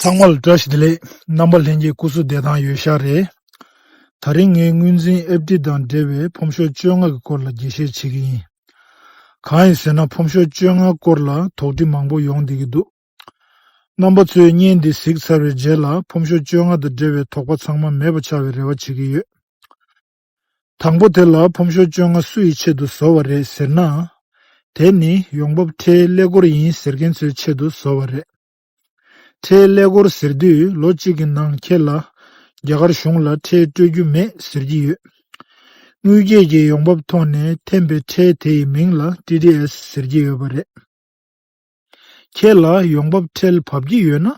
ཚང་མ་ལ་བཀྲ་ཤིས་བདེ་ལེགས། རྣམ་པ་ལྷན་རྒྱས་སྐུ་གཟུགས་བདེ་ཐང་ཡོད་ཤག་རེད། ད་རིང་ངས་དངུལ་འཛིན་ཨེབ་ཏི་དང་འབྲེལ་བའི་ཕོམ་ཤོག་བཅོ་ལྔ་གི་སྐོར་ལ་རྒྱས་བཤད་བྱེད་ཀྱི་ཡིན། གང་ཡིན་ཟེར་ན་ཕོམ་ཤོག་བཅོ་ལྔ་སྐོར་ལ་དོགས་འདྲི་མང་པོ་ཡོང་བསྡད་ཀྱི་འདུག་རྣམ་པ་ཚོས་བརྙན་འདི་གཟིགས་ཚར་བའི་རྗེས་ལ་ཕོམ་ཤོག་བཅོ་ལྔ་དང་འབྲེལ་བའི་དོགས་པ་ཚང་མ་མེད་པ་ཆགས་པའི་རེ་བ་བྱེད་ཀྱི་ཡོད། དང་པོ་དེ་ལ་ཕོམ་ཤོག་བཅོ་ལྔ་སུ་ཡི་ཆེད་དུ་བཟོ་བ་རེད་ཟེར་ན། དེ་ནི་ཡོང་འབབ་ཁྲའི་ཀླད་ཀོར་ཡིན་ཟེར་མཁན་ཚོའི་ཆེད་དུ་བཟོ་བ་རེད། ཁྲའི་ཀླད་ཀོར་ཟེར་དུས་ལོ་གཅིག་གི་ནང་ཁྱེད་ལ་རྒྱ་གར་གཞུང་ལ་ཁྲལ་སྤྲོད་རྒྱུ་མེད་ཟེར་གྱི་ཡོད། དངུལ་སྐྱེད་ཀྱི་ཡོང་འབབ་ཐོག་ནས་འཐེན་པའི་ཁྲལ་དེ་ཡི་མིང་ལ TDS ཟེར་གྱི་ཡོད་པ་རེད། ཁྱེད་ལ་ཡོང་འབབ་ཁྲལ་བབས་ཀྱི་ཡོད་ན་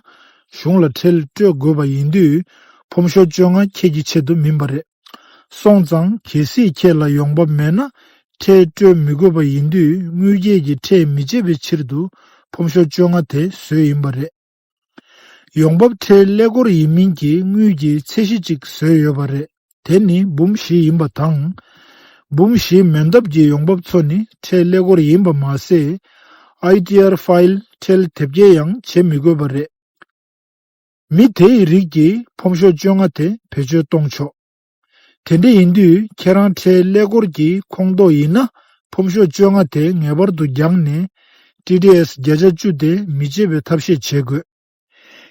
གཞུང་ལ་ཁྲལ་སྤྲོད་དགོས་པ་ཡིན་དུས་ཕོམ་ཤོ་བཅོ་ལྔ་ཁྱེད་ཀྱི་ཆེད་དུ་མིན་པ་རེད། སོང་ཙང་གལ་སྲིད་ཁྱེད་ལ་ཡོང་འབབ་མེད་ན་ཁྲལ་སྤྲོད་མི་དགོས་པ་ཡིན་དུས་དངུལ་སྐྱེད་ཀྱི་ཁྲལ་མི་བཅད་པའི་ཕྱིར་དུ་ཕོམ་ཤོ་བཅོ་ལྔ་དེ་བཟོས་ཡིན་པ་རེད། ཡོང་འབབ་ཁྲལ་ཀླད་སྐོར་ཡིན་མིན་གྱི་དངུལ་གྱི་ཚད་གཞི་གཅིག་བཟོས་ཡོད་པ་རེད་དེ་ནི་འབུམ་བཞི་ཡིན་པ་དང། འབུམ་བཞིའི་མེད་འདབ་ཀྱི་ཡོང་འབབ་ཚོ་ནི་ཁྲལ་ཀླད་སྐོར་ཡིན་པ་མ་ཟད། ITR File ཁྲལ་དེབ་སྐྱེལ་ཡང་བྱེད་མི་དགོས་པ་རེད། མི་དེའི་རིགས་ཀྱིས་ཕོམ་ཤོག་བཅོ་ལྔ་དེ་བེད་སྤྱོད་གཏོང་ཆོག། དེ་འདྲ་ཡིན་དུས་ཁྱེད་རང་ཁྲལ་ཀླད་ཀོར་གྱི་ཁོངས་གཏོགས་ཡིན་ན་ཕོམ་ཤོག་བཅོ་ལྔ་དེ་ངེས་པར་དུ་རྒྱག་ནས། TDS བརྒྱ་ཆ་བཅུ་དེ་མི་བརྗེད་པའི་ཐབས་ཤེས་བྱེད་དགོས།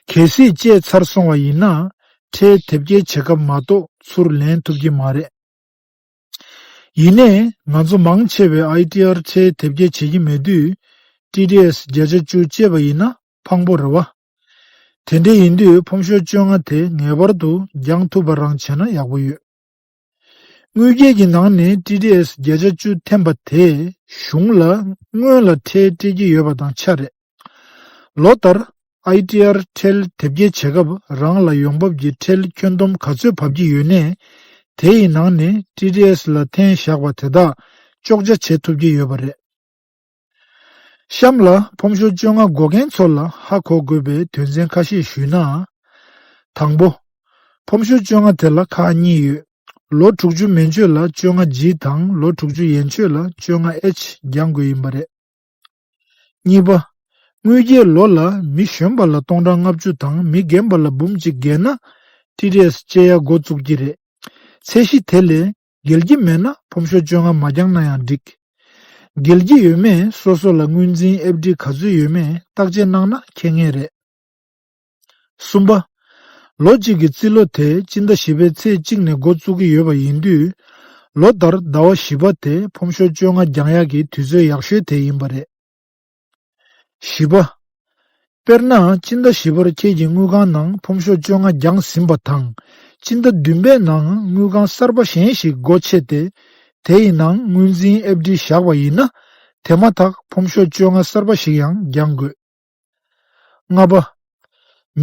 གལ་སྲིད་བཅད་ཚར་སོང་བ་ཡིན་ན་ཁྲལ་དེབ་སྐྱེལ་བྱེད་སྐབས་མ་གཏོགས་ཚུར་ལེན་ཐུབ་ཀྱི་མ་རེད། ཡིན་ནས་ང་ཚོ་མང་ཆེ་བས ITR ཁྲལ་དེབ་སྐྱེལ་བྱེད་ཀྱི་མེད་དུས TDS བརྒྱ་ཆ་བཅུ་བཅད་པ་ཡིན་ན་ཕངས་པོ་རེད་བ། དེ་འདྲ་ཡིན་དུས་ཕོམ་ཤོ་བཅོ་ལྔ་དེ་ངེས་པར་དུ་འགྱངས་ཐུབ་པ་རང་བྱས་ན་ཡག་པོ་ཡོད། དངུལ་སྐྱེལ་གྱི་ནང་ནས TDS བརྒྱ་ཆ་བཅུ་འཐེན་པ་དེས་གཞུང་ལ་སྔོན་ལ་ཁྲལ་སྤྲད་ཀྱི་ཡོད་པ་དང་ཆ་རེད། ལོ་ལྟར ITR ཁྲལ་དེབ་སྐྱེལ་བྱེད་སྐབས་རང་ལ་ཡོང་འབབ་ཀྱི་ཁྲལ་ཁྱོན་བསྡོམས་ག་ཚོད་བབ་ཀྱི་ཡོད་ནས་དེ་ཡི་ནང་ནས TDS ལ་འཐེན་བཞག་པ་དེ་དག་གཅོག་ཆ་བྱེད་ཐུབ་ཀྱི་ཡོད་པ་རེད། གཤམ་ལ་ཕོམ་ཞོར་བཅོ་ལྔ་འགོག་མཁན་ཚོ་ལ་ཧ་གོ་དགོས་པའི་དོན་ཚན་ཁ་ཤས་ཞུས་ན། དང་པོ། ཕོམ་ཞོར་བཅོ་ལྔ་དེ་ལ་ཁག་གཉིས་ཡོད། ལོ་དྲུག་ཅུ་མན་ཆོད་ལ་བཅོ་ལྔ G དང་ལོ་དྲུག་ཅུ་ཡན་ཆོད་ལ་བཅོ་ལྔ H འགྱང་དགོས་ཡིན་པ་རེད། གཉིས་པ། དངུལ་རྒྱལ་ལོ་ལ་མི་གཞོན་པ་ལ་སྟོང་ཕྲག་ལྔ་བཅུ་དང་མི་རྒན་པ་ལ་འབུམ་གཅིག་བརྒལ་ན། TDS སྤྱད་ཡ་འགོ་བཙུགས་ཀྱི་རེད། ཚད་གཞི་དེ་ལས་འགེལ་གྱི་མེད་ན་ཕོམ་ཤོག་བཅོ་ལྔ་མ་བརྒྱངས་ན་ཡང་འགྲིག། འགེལ་གྱི་ཡོད་མེད་སོ་སོ་ལ་དངུལ་འཛིན་ཨེབ་ཀྲི་ག་ཚོད་ཡོད་མེད་བརྟག་དཔྱད་གནང་ན་མཁྱེན་ངེས་རེད། གསུམ་པ། ལོ་གཅིག་གི་རྩིས་ལོ་དེ་སྤྱི་ཟླ་བཞི་པའི་ཚེས་གཅིག་ནས་འགོ་བཙུགས་ཀྱི་ཡོད་པ་ཡིན་དུས། ལོ་ལྟར་ཟླ་བ་བཞི་པ་དེ་ཕོམ་ཤོག་བཅོ་ལྔ་བརྒྱང་ཡག་གི་དུས་ཚོད་ཡག་ཤོས་དེ་ཡིན་པ་རེད། བཞི་པ། དཔེར་ན་སྤྱི་ཟླ་བཞི་པར་ཁྱེད་ཀྱི་དངུལ་ཁང་ནང་ཕོམ་ཤོག་བཅོ་ལྔ་བརྒྱངས་ཟིན་པ་དང། སྤྱི་ཟླ་བདུན་པའི་ནང་དངུལ་ཁང་གསར་པ་གཞན་ཞིག་སྒོ་ཕྱེ་སྟེ། དེ་ཡི་ནང་དངུལ་འཛིན་ཨེབ་ཀྲི་བཞག་པ་ཡིན་ན། དེ་མ་ཐག་ཕོམ་ཤོག་བཅོ་ལྔ་གསར་པ་ཞིག་ཡང་བརྒྱང་དགོས། ལྔ་པ།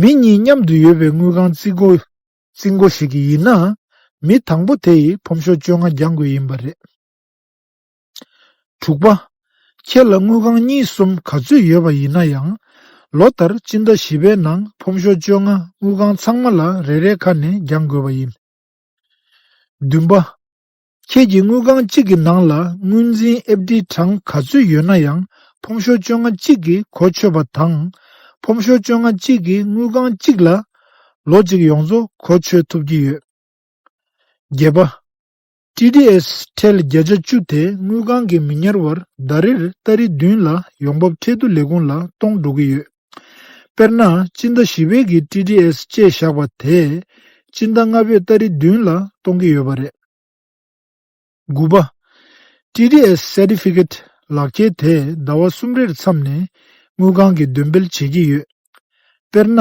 མི་གཉིས་མཉམ་དུ་ཡོད་པའི་དངུལ་ཁང་རྩིས་སྒོ། རྩིས་མགོ་ཞིག་གི་ཡིན་ན། མི་དང་པོ་དེ་ཡིས་ཕོམ་ཤོག་བཅོ་ལྔ་བརྒྱང་དགོས་ཡིན་པ་རེད། དྲུག་པ། ཁྱེད་ལ་དངུལ་ཁང་གཉིས་གསུམ་ག་ཚོད་ཡོད་པ་ཡིན་ན་ཡང། ལོ་ལྟར་སྤྱི་ཟླ་བཞི་པའི་ནང་ཕོམ་ཤོག་བཅོ་ལྔ་དངུལ་ཁང་ཚང་མ་ལ་རེ་རེ་ཁ་ནས་འགྱངས་དགོས་པ་ཡིན། བདུན་པ། ཁྱེད་ཀྱི་དངུལ་ཁང་གཅིག་གི་ནང་ལ་དངུལ་འཛིན་ཨེབ་ཀྲི་གྲངས་ག་ཚོད་ཡོད་ན་ཡང་ཕོམ་ཤོག་བཅོ་ལྔ་གཅིག་གིས་གོ་ཆོད་པ་དང། ཕོམ་ཤོག་བཅོ་ལྔ་གཅིག་གིས་དངུལ་ཁང་གཅིག་ལ། ལོ་གཅིག་ཡོངས་རྫོགས་གོ་ཆོད་ཐུབ་ཀྱི་ཡོད། བརྒྱད་པ། TDS ཁྲལ་བརྒྱ་ཆ་བཅུ་དེ་དངུལ་ཁང་གིས་མི་ཉར་བར་ཟླ་རེར་སྟ་རེ་བདུན་ལ་ཡོང་འབབ་ཁྲལ་བསྡུ་ལས་ཁུངས་ལ་གཏོང་འགྲོ་གི་ཡོད། དཔེར་ན་སྤྱི་ཟླ་བཞི་བོད་ཀྱི TDS བཅས་བཞག་པ་དེས་སྤྱི་ཟླ་ལྔ་བོད་སྟ་རེ་བདུན་ལ་གཏོང་གི་ཡོད་པ་རེད། དགུ་པ། TDS Certificate ལག་ཁྱེར་དེ་ཟླ་བ་གསུམ་རེར་མཚམས་ནས་དངུལ་ཁང་གིས་འདོན་སྤེལ་བྱེད་ཀྱི་ཡོད། དཔེར་ན།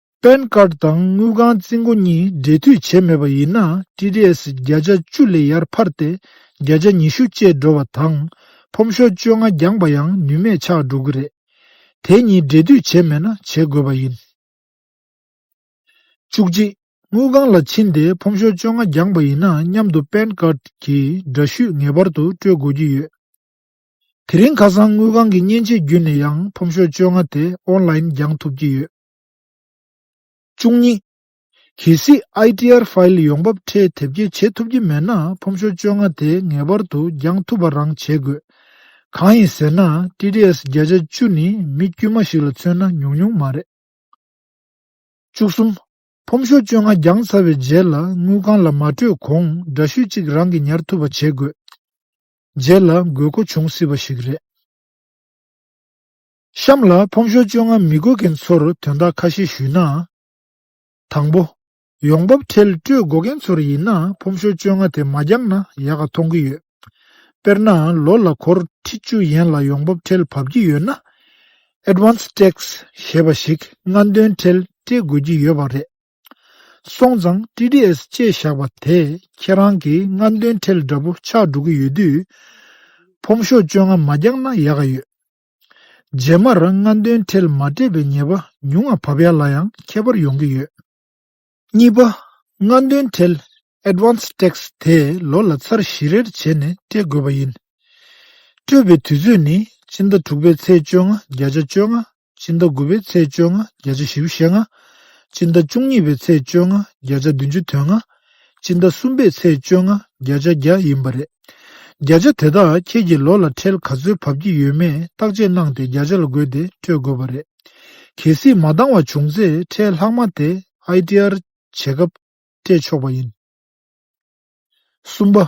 པན་ཀརྡ་དང་དངུལ་ཁང་རྩིས་མགོ་གཉིས་སྦྲེལ་མཐུད་བྱས་མེད་པ་ཡིན་ན TDS བརྒྱ་ཆ་བཅུ་ལས་ཡར་འཕར་ཏེ་བརྒྱ་ཆ་ཉི་ཤུ་བཅས་འགྲོ་བ་དང། ཕོམ་ཤོག་བཅོ་ལྔ་འགྱངས་པ་ཡང་ནུས་མེད་ཆགས་འགྲོ་གི་རེད། དེ་གཉིས་སྦྲེལ་མཐུད་བྱས་མེད་ན་བྱེད་དགོས་པ་ཡིན། བཅུ་གཅིག། དངུལ་ཁང་ལ་ཕྱིན་ཏེ་ཕོམ་ཤོག་བཅོ་ལྔ་འགྱངས་པ་ཡིན་ན་མཉམ་དུ་པན་ཀརྡ་གྱི་འདྲ་བཤུས་ངེས་པར་དུ་སྤྲོད་དགོས་ཀྱི་ཡོད། དེ་རིང་ཁ་སང་དངུལ་ཁང་གི་མཉེན་ཆས་བརྒྱུད་ནས་ཡང་ཕོམ་ཤོག་བཅོ་ལྔ་དེ་ཨོན་ལཱིན་འགྱངས་ཐུབ་ཀྱི་ཡོད། བཅུ་གཉིས། གལ་སྲིད ITR File ཡོང་འབབ་ཁྲལ་དེབ་སྐྱེལ་བྱེད་ཐུབ་ཀྱི་མེད་ན་ཕོམ་ཤོ་བཅོ་ལྔ་དེ་ངེས་པར་དུ་འགྱངས་ཐུབ་པ་རང་བྱེད་དགོས། གང་ཡིན་ཟེར་ན TDS བརྒྱ་ཆ་བཅུ་ནི་མི་དཀྱུས་མ་ཞིག་ལ་མཚོན་ན་ཉུང་ཉུང་མ་རེད། བཅུ་གསུམ། ཕོམ་ཤོ་བཅོ་ལྔ་འགྱངས་ཚར་བའི་རྗེས་ལ་དངུལ་ཁང་ལ་མ་སྤྲོད་གོང་འདྲ་བཤུས་གཅིག་རང་གིས་ཉར་ཐུབ་པ་བྱེད་དགོས། རྗེས་ལ་དགོས་མཁོ་འབྱུང་སྲིད་པ་ཞིག་རེད། གཤམ་ལ་ཕོམ་ཞོར་བཅོ་ལྔ་མི་དགོས་མཁན་ཚོར་དོན་དག་ཁ་ཤས་ཞུས་ན། དང་པོ། ཡོང་འབབ་ཁྲལ་སྤྲོད་འགོག་མཁན་ཚོར་ཡིན་ན་ཕོམ་ཞོར་བཅོ་ལྔ་དེ་མ་བརྒྱབ་ན་ཡག་ག་མཐོང་གི་ཡོད། དཔེར་ན་ལོ་ལ་གོར་ཁྲི་བཅུ་ཡན་ལ་ཡོང་འབབ་ཁྲལ་བབས་ཀྱི་ཡོད་ན། Advance Tax། ཞེས་པ་ཞིག་སྔ་འདོན་ཁྲལ་སྤྲད་དགོས་ཀྱི་ཡོད་པ་རེད། སོང་ཙང TDS བཅས་བཞག་པ་དེས་ཁྱེད་རང་གི་སྔ་འདོན་ཁྲལ་འདྲ་པོ་ཆགས་འགྲོ་གི་ཡོད་དུས། ཕོམ་ཞོར་བཅོ་ལྔ་མ་རྒྱག་ན་ཡག་ག་ཡོད། རྗེས་མར་རང་སྔ་འདོན་འཕྲལ་མ་སྤྲད་པའི་ཉེས་པ་ཉུང་ངམ་བབ་ཡག་ལ་ཡང་ཁྱད་པར་ཡོང་གི་ཡོད། གཉིས་པ། སྔ་འདོན་འཕྲལ Advance Tax དེ་ལོ་ལ་ཚར་བཞི་རེར་བྱས་ནས་སྤྲད་དགོས་པ་ཡིན། སྤྲོད་པའི་དུས་ཚོད་ནི་སྤྱི་ཟླ་དྲུག་པའི་ཚེས་བཅོ་ལྔ་བརྒྱ་ཆ་བཅོ་ལྔ། སྤྱི་ཟླ་དགུ་པའི་ཚེས་བཅོ་ལྔ་བརྒྱ་ཆ་བཞི་བཞི་ལྔ། སྤྱི་ཟླ་བཅུ་གཉིས་པའི་ཚེས་བཅོ་ལྔ་བརྒྱ་ཆ་བདུན་ཅུ་དོན་ལྔ། སྤྱི་ཟླ་གསུམ་པའི་ཚེས་བཅོ་ལྔ་བརྒྱ་ཆ་བརྒྱ་ཡིན་པ་རེད། བརྒྱ་ཆ་དེ་དག་ཁྱེད་ཀྱི་ལོ་ལ་ཁྲལ་ག་ཚོད་བབས་ཀྱི་ཡོད་མེད་བརྟག་དཔྱད་གནང་སྟེ་བརྒྱ་ཆ་ལ་བགོས་ཏེ་སྤྲོད་དགོས་པ་རེད། གལ་སྲིད་མ་འདང་བ་བྱུང་ཚེ་ཁྲལ་ལྷག་མ་དེ ITR བྱེད་སྐབས་སྤྲད་ཆོག་པ་ཡིན། གསུམ་པ།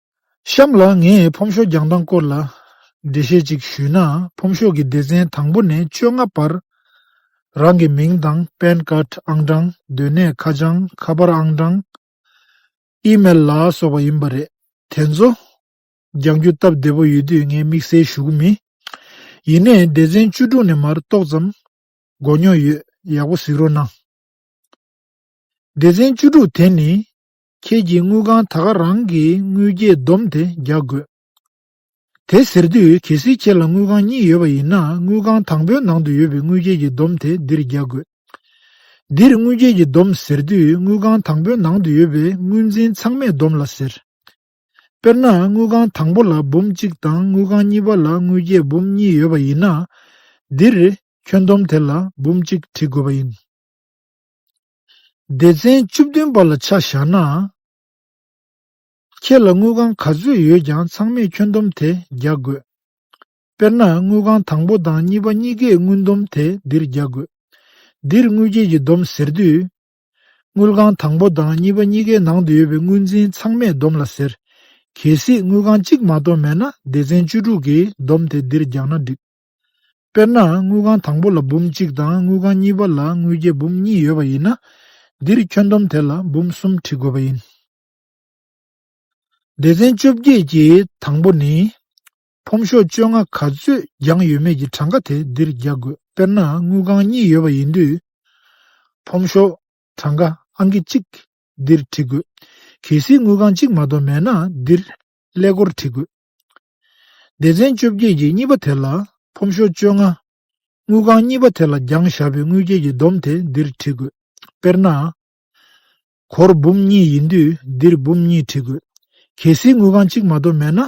གཤམ་ལ་ངས་ཕོམ་ཤོག་རྒྱང་སྟངས་སྐོར་ལ་འགྲེལ་བཤད་ཅིག་ཞུས་ན་ཕོམ་ཤོག་གི་སྡེ་ཚན་དང་པོ་ནས་བཅོ་ལྔ་བར་རང་གི་མིང་དང་པན་ཀརྡ་ཨང་གྲངས་སྡོད་གནས་ཁ་བྱང་ཁ་པར་ཨང་གྲངས། Email། ལ་སོགས་པ་ཡིན་པ་རེད་དེ་ཚོ་རྒྱང་རྒྱུ་སྟབས་བདེ་པོ་ཡོད་དུས་ངས་དམིགས་བསལ་ཞུ་གི་མིན། ཡིན་ནས་སྡེ་ཚན་བཅུ་དྲུག་ནས་མར་ཏོག་ཙམ་མགོ་རྙོག་ཡོད་ཡག་པོ་གཟིགས་རོགས་གནང། སྡེ་ཚན་བཅུ་དྲུག་དེ་ནི་ཁྱེད་ཀྱིས་དངུལ་ཁང་ད་ག་རང་གི་དངུལ་རྒྱས་བསྡོམས་དེ་རྒྱག་དགོས། དེ་ཟེར་དུས་གལ་སྲིད་ཁྱེད་ལ་དངུལ་ཁང་གཉིས་ཡོད་པ་ཡིན་ན་དངུལ་ཁང་དང་པོའི་ནང་དུ་ཡོད་པའི་དངུལ་རྒྱས་ཀྱི་བསྡོམས་དེ་འདིར་རྒྱག་དགོས། འདིར་དངུལ་རྒྱས་ཀྱི་བསྡོམས་ཟེར་དུས་དངུལ་ཁང་དང་པོའི་ནང་དུ་ཡོད་པའི་དངུལ་འཛིན་ཚང་མའི་བསྡོམས་ལ་ཟེར། དཔེར་ན་དངུལ་ཁང་དང་པོ་ལ་འབུམ་གཅིག་དང་དངུལ་ཁང་གཉིས་པ་ལ་དངུལ་རྒྱས་འབུམ་གཉིས་ཡོད་པ་ཡིན་ན། འདིར་ཁྱོན་བསྡོམས་དེ་ལ་འབུམ་གཅིག་བྲི་དགོས་པ་ཡིན། སྡེ་ཚན་བཅུ་བདུན་པ་ལ་ཆ་བཞག་ན། ཁྱེད་ལ་དངུལ་ཁང་ག་ཚོད་ཡོད་ཀྱང་ཚང་མས་ཁྱོན་བསྡོམས་དེ་རྒྱག་དགོས། དཔེར་ན་དངུལ་ཁང་དང་པོ་དང་གཉིས་པ་གཉིས་ཀས་དངུལ་བསྡོམས་དེ་འདིར་རྒྱག་དགོས། འདིར་དངུལ་ཁྱེད་ཀྱིས་བསྡོམས་ཟེར་དུས། དངུལ་ཁང་དང་པོ་དང་གཉིས་པ་གཉིས་ཀའི་ནང་དུ་ཡོད་པའི་དངུལ་འཛིན་ཚང་མས་བསྡོམས་ལ་ཟེར། གལ་སྲིད་དངུལ་ཁང་གཅིག་མ་གཏོགས་མེད་ན་སྡེ་ཚན་བཅུ་དྲུག་གིས་བསྡོམས་དེ་འདིར་རྒྱག་ན་འགྲིགས། དཔེར་ན་དངུལ་ཁང་དང་པོ་ལ་འབུམ་གཅིག་དང་དངུལ་ཁང་གཉིས་པ་ལ་དངུལ་རྒྱས་འབུམ་གཉིས་ཡོད་པ་ཡིན་ན། འདིར་ཁྱོན་བསྡོམས་དེ་ལ་འབུམ་གསུམ་བྲི་དགོས་པ་ཡིན། སྡེ་ཚན་བཅོ་བརྒྱད་ཀྱི་དང་པོ་ནི། ཕོམ་ཤོག་བཅོ་ལྔ་ག་ཚོད་རྒྱང་ཡོད་མེད་ཀྱི་གྲངས་ཀ་དེ་འདིར་རྒྱག་དགོས་དཔེར་ན་དངུལ་ཁང་གཉིས་ཡོད་པ་ཡིན་དུས། ཕོམ་ཤོག་གྲངས་ཀ་ཨང་ཀི་གཅིག་འདིར་བྲི་དགོས། གལ་སྲིད་དངུལ་ཁང་གཅིག་མ་གཏོགས་མེད་ན་འདིར་ཀླད་ཀོར་བྲི་དགོས། སྡེ་ཚན་བཅོ་བརྒྱད་ཀྱི་གཉིས་པ་དེ་ལ་ཕོམ་ཤོག་བཅོ་ལྔ། དངུལ་ཁང་གཉིས་པ་དེ་ལ་རྒྱང་བཞག་པའི་དངུལ་སྐྱེལ་གྱི་སྡོམ་དེ་འདིར་བྲི་དགོས། དཔེར་ན། གོར་འབུམ་གཉིས་ཡིན་དུས་འདིར་འབུམ་གཉིས་བྲི་དགོས། གལ་སྲིད་དངུལ་ཁང་གཅིག་མ་གཏོགས་མེད་ན།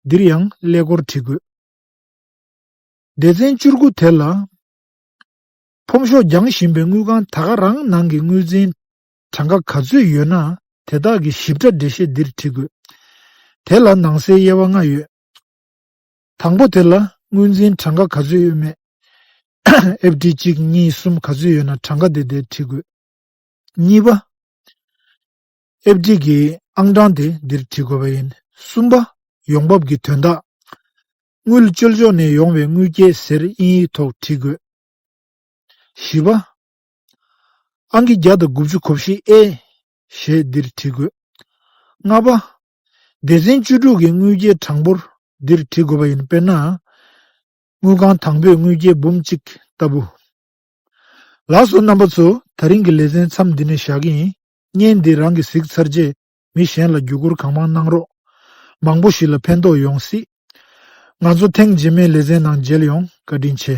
འདིར་ཡང་ཀླད་གོར་བྲི་དགོས། སྡེ་ཚན་བཅུར་དགུ་དེ་ལ། ཕོམ་ཤོག་རྒྱང་བཞིན་པའི་དངུལ་ཁང་ད་ག་རང་ནང་གི་དངུལ་འཛིན། གྲངས་ཀ་ག་ཚོད་ཡོད་ན་དེ་དག་གི་ཞིབ་ཕྲ་འགྲེལ་བཤད་འདིར་བྲིས་དགོས། དེ་ལ་ནང་གསེས་དབྱེ་བ་ལྔ་ཡོད། དང་པོ་དེ་ལ་དངོས་འཛིན་གྲངས་ཀ་ག་ཚོད་ཡོད་མེད། ཨེབ་ཀྲི་གཅིག་གཉིས་གསུམ་ག་ཚོད་ཡོད་ན་གྲངས་ཀ་དེ་འདིར་བྲིས་དགོས། གཉིས་པ། ཨེབ་ཀྲི་གི་ཨང་གྲངས་དེ་འདིར་བྲིས་དགོས་པ་ཡིན། གསུམ་པ། ཡོང་འབབ་ཀྱི་དོན་དག། དངུལ་བཅོལ་ཕྱོགས་ནས་ཡོང་བའི་དངུལ་སྐྱེད་ཟེར་དབྱིན་ཡིག་ཐོག་བྲིས་དགོས། བཞི་པ། ཨང་ཀི་བརྒྱ་དང་དགུ་བཅུ་གོ་བཞི་ཨེ། ཞེས་འདིར་བྲི་དགོས། ལྔ་པ། སྡེ་ཚན་བཅུ་དྲུག་གི་དངུལ་སྐྱེལ་གྲངས་འབོར་འདིར་བྲི་དགོས་པ་ཡིན་དཔེར་ན། དངུལ་ཁང་དང་པོས་དངུལ་སྐྱེལ་འབུམ་གཅིག་ལྟ་བུ། ལགས་སོ་རྣམ་པ་ཚོ་ད་རིང་གི་ལེ་ཚན་མཚམས་འདི་ནས་བཞག་གི་ཡིན་བརྙན་འདི་རང་གི་གཟིགས་ཚར་རྗེས་མི་གཞན་ལ་བརྒྱུད་སྐུར་གང་མང་གནང་རོགས། མང་པོ་ཞིག་ལ་ཕན་ཐོག་ཡོང་སྲིད། ང་ཚོ་ཐེངས་རྗེས་མའི་ལེ་ཚན་ནང་མཇལ་ཡོང་བཀའ་དྲིན་ཆེ།